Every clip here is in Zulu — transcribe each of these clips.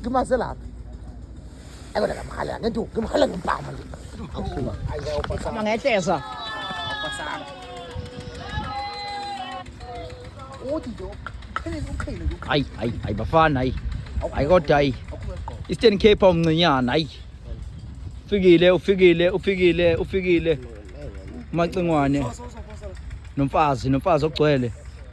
ngimaze lapha ayikona ngamhala ngentu ngimhala ngempama nje Sama ngehleza. Uthi nje uqhelile uqhelile nje. Hayi hayi hayi bafana hayi. Hayi kodwa hayi. Eastern Cape umncinyana hayi. Ufikile ufikile ufikile ufikile. Macingwane. Nomfazi nomfazi ogcwele.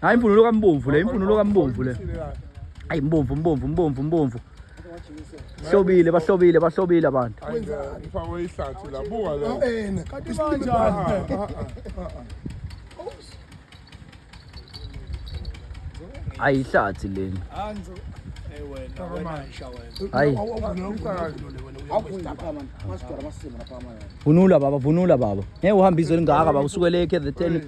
Hayi imvunulo kambomvu le, imvunulo kambomvu le. Hayi mbomvu, mbomvu, mbomvu, mbomvu. Hlobile, bahlobile, bahlobile abantu. Ngifakwe ihlathi la, buka la. Awena, kanti banjani? Hayi ihlathi leni. Anzo. Hey wena, wena isha wena. Hayi. Vunula baba, vunula baba. Ngeke uhambe izwe lingaka baba, usukele ekhe the 10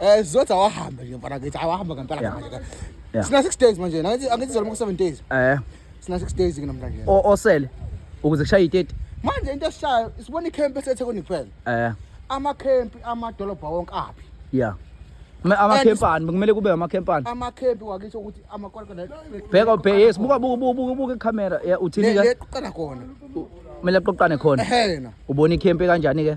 Eh sizothi awahamba nje mfana kithi awahamba ngempela Yeah. manje. Yeah. Sina 6 days manje. Angithi angithi zaluma ku 7 days. Eh Sina 6 days ke namhlanje. o- osele ukuze kushaye i-30. Manje into esishayo sibona i-camp eseThekwini kuphela. Eh Ama camp amadolobha wonke aphi? yeah. Ma- Amakhempani kumele kube amakhempani. Ama camp wakithi ukuthi amakoloko la. Bheka ubhe yes buka buka buka buka buka ikhamera. Yeah uthini Le ke? qala khona. Kumele aqoqane khona. Ehena. Ubona ikhempe kanjani ke?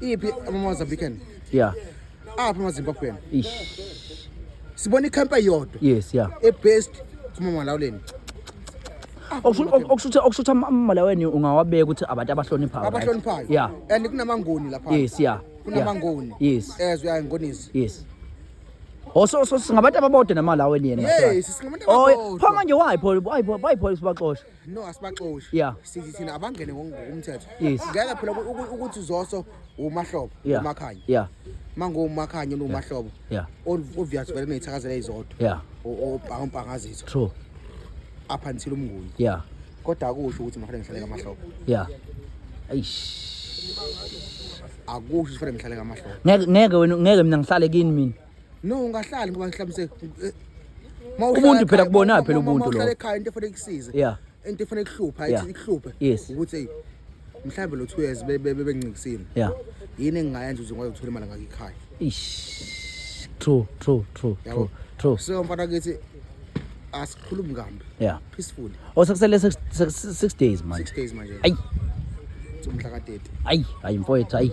iphi amamozambican yeah aphi amazimbabwean ish sibona ikhampa yodwa yes yeah ebest kumamalawuleni okusho okusho ukuthi- okusho ukuthi ama- amamalaweni ungawabeka ukuthi abantu abahloniphayo right? abahloniphayo yeah and kunamangoni lapha yes yeah kunamangoni yeah. yes as we are ngonisi yes Oh so so singabantu ababodwa namalaweni yena Yes, singabantu Oh, ababodwa. pho manje why pho why pho why pho sibaxosha no asibaxoshi yeah. sithi thina abangene ngokumthetho yes. ngeke phela ukuthi zoso umahlobo yeah. umakhanya yeah. mangomakhanya nomahlobo yeah. obvious vele neyithakazela izodwa yeah. ompangazitho true up until umnguni yeah. kodwa akusho ukuthi mafanele ngihlale kamahlobo yeah. akusho ukuthi fanele ngihlale kamahlobo ngeke wena ngeke mina ngihlale kini mina No ungahlali ngoba mhlawumbe eh, umuntu phela kubona phela ubuntu lo. Ekhaya into efanele ikusize. Yeah. Into efanele ikuhlupha, ithi ikuhluphe. Ukuthi mhlawumbe lo 2 years bebengincikisile. Yeah. Yini engingayenza ukuze ngwazi ukuthola imali ngakikhaya? Ish. True, true, true, true, true. So mfana kithi ask khuluma kambi yeah peaceful oh sekusele 6 days manje 6 days manje ayi umhla ka 30 ayi ayi mfowethu ayi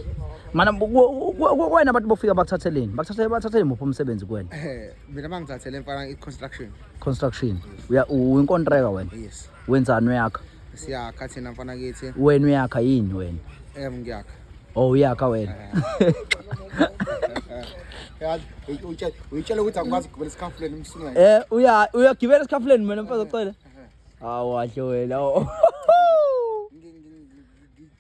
mana kwena abantu bofika bakuthatheleni bakuthathele bathathele muphi umsebenzi kuwena eh mina bangithathele mfana i construction construction uya uwinkontreka wena yes wenzani yakho siyakha thina mfana kithi wena uyakha yini wena em ngiyakha oh uyakha wena yazi uyitshela uyitshela ukuthi akwazi ukugibela esikhafuleni umsungane eh uya uyagibela esikhafuleni mina mfazi ocela awu wahle wena oh.